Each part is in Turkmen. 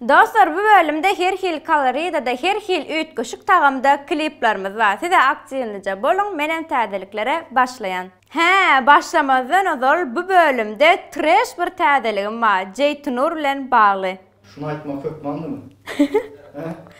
Dostlar bu bölümde her hili koloridada her hili üýtgeşik tagamda kliplerimiz bar size aktiwnyja boluň menem täzeliklere başlaýan. Hä başlamazdan ozal bu bölümde treş bir täzeligim bar Jeýtynur bilen bagly. Şuny aýtmak hökmandymy? Hä?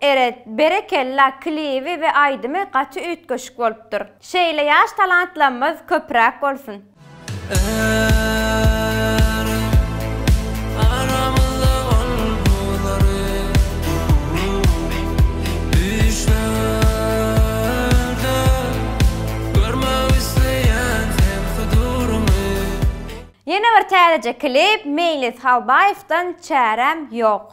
Eret, berekella klibi we aýdymy gaty üýtgeşik bolupdyr. Şeýle ýaş talantlamyz köpräk bolsun. Eret, aramyzda ol buzlary düşlerde görmek isleýän sen huduryňy. Ýene bir täzeje klip Meýlis Halbaýewdan Çäräm ýok.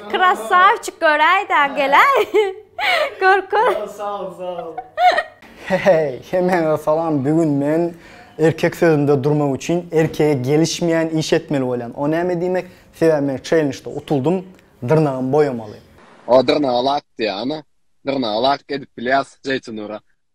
Krassavçik göräýdä geläý. Gör gör. Sag ol sag ol. Heheý hemäňe salam bigün men erkek sözünde durmak üçin erkege gelişmeýän iş etmeli bolýan o näme diýmek sebäbi men çellenjde utuldym dyrnagym boýamaly. O dyrnagy lak diýýär ana. Dyrnagy lak edip bilýäs Jeýtunura.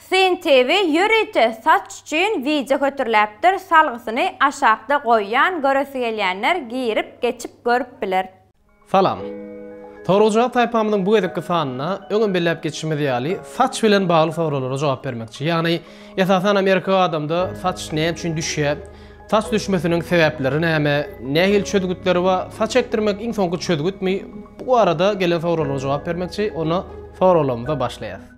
Syn TV ýörite saç üçin wideo hötürläpdir salgysyny aşakda goýýan göresi gelýänler girip geçip görüp biler. Salam. Soragujak saýpamyzyň bu gezekki sanynda, öňem belläp geçişimiz ýaly, saç bilen bagly soraglara jogap bermekçi. Ýagny, esasanam erkek adamda saç näme üçin düşýä, saç düşmesiniň sebäpleri näme, nähili çözgütleri bar, saç ekdirmek iň soňky çözgütmi, bu barada gelen soraglara jogap bermekçi, onda soraglarymyza başlaýas.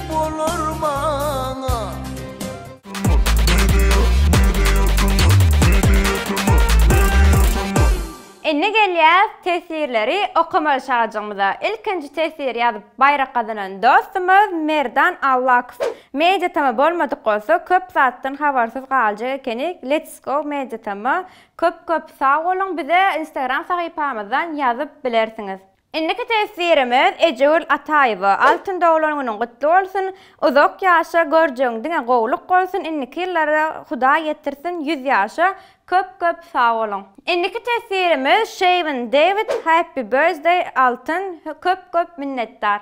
Bolar maňa. Indi gelýäs teswirleri okamaly şajygymyza. Ilkinji teswir ýazyp baýrak gazanan dostumyz Merdan Allakow. Media tama bolmadyk bolsa köp zatdan habarsyz galjak ekenik Let's go media tama köp köp sag boluň bize instagram sahypamyzdan ýazyp bilersiňiz. Indiki teswirimiz Ejegül Ataýewa Altyn doglan günüň gutly bolsun uzak ýaşa görjegiň diňe gowluk bolsun indiki ýyllara Hudaý ýetirsin ýüz ýaşa köp köp sag boluň. Indiki teswirimiz Şeýwin Dewid Happy birthday Altyn köp köp minnetdar.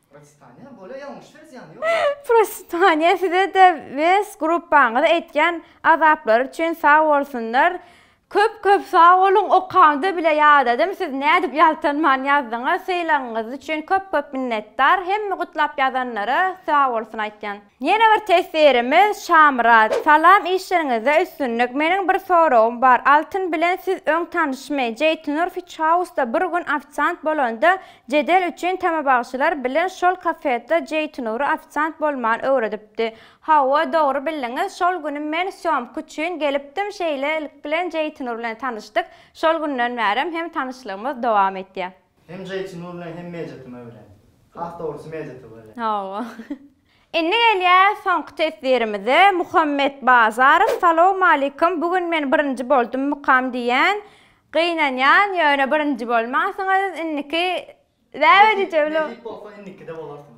Prositania bolýa ýalňyşlar zyýany ýok. Prositania size-de wes gruppaňyza etýän azaplary üçin sag bolsunlar. Köp köp sag boluň okamda bile ýadadym siz nädip ýaltanman ýazdyňyz sylagyňyz üçin köp köp minnetdar hemme gutlap ýazanlara sag bolsun aýtýan. Ýene bir teswirimiz Şamyrat. Salam işleriňizde üstünlik meniň bir soragym bar Altyn bilen siz öň tanyşmy Jeýtunur fiçhausda bir gün ofisant bolanda jedel üçin tamabagşylar bilen şol kafetda Jeýtunury ofisant bolman öwredipdi Hawa dogry bildiňiz şol güni men sýomka üçin gelipdim şeýlelik bilen Jeýtunur bilen tanyşdyk şol günden bärem hem tanyşlygymyz dowam etýär. Hem Jeýtunu bilen hem Mejitimi bilen. Has dogrusy Mejiti bilen. Hawa. Indi gelýäs soňky teswirimize Muhammet Bazarow salowmalikim bu gün men birinji boldum mukam diýýän gynanýan ýöne birinji bolmansyňyz indiki näme diýjegini Nesip bolsa indikide bolarsyňyz.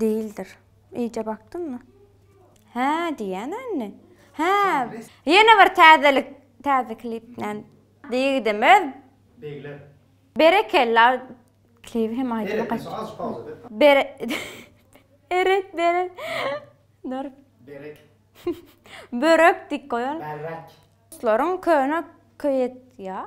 Dýildir. Eýje bakdyňmy? Hä, diýýän indi. Hä, ýene bir täzelik. Täze klip näme? Ýigidimiz. Begler. Berekella. Klibi hem aýdymy gaty. Eret, az pauza ber. Bere Eret, bere Dur. Berek. Börek diýip goýalyň. Berrek. Ruslaryň köne köýet ýa.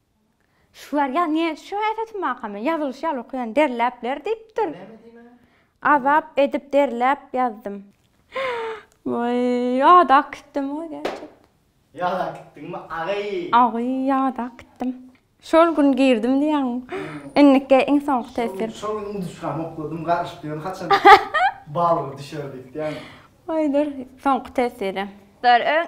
Şular ýa ne şu äheti makamy ýazylyşy ýaly okaýan derläp ler diýipdir. Azap edip derläp ýazdym. Waý ýada kitdim waý gerçekden. Ýada kitdiňmi agy. Agy ýada kitdim. Şol gün girdim diýýäň. Indiki iň soňky teswir. Şol gün induşkamy okladym garyşyp ýörün haçan balga düşer diýip diýýäň. Waý dur soňky teswiri. Dur öň.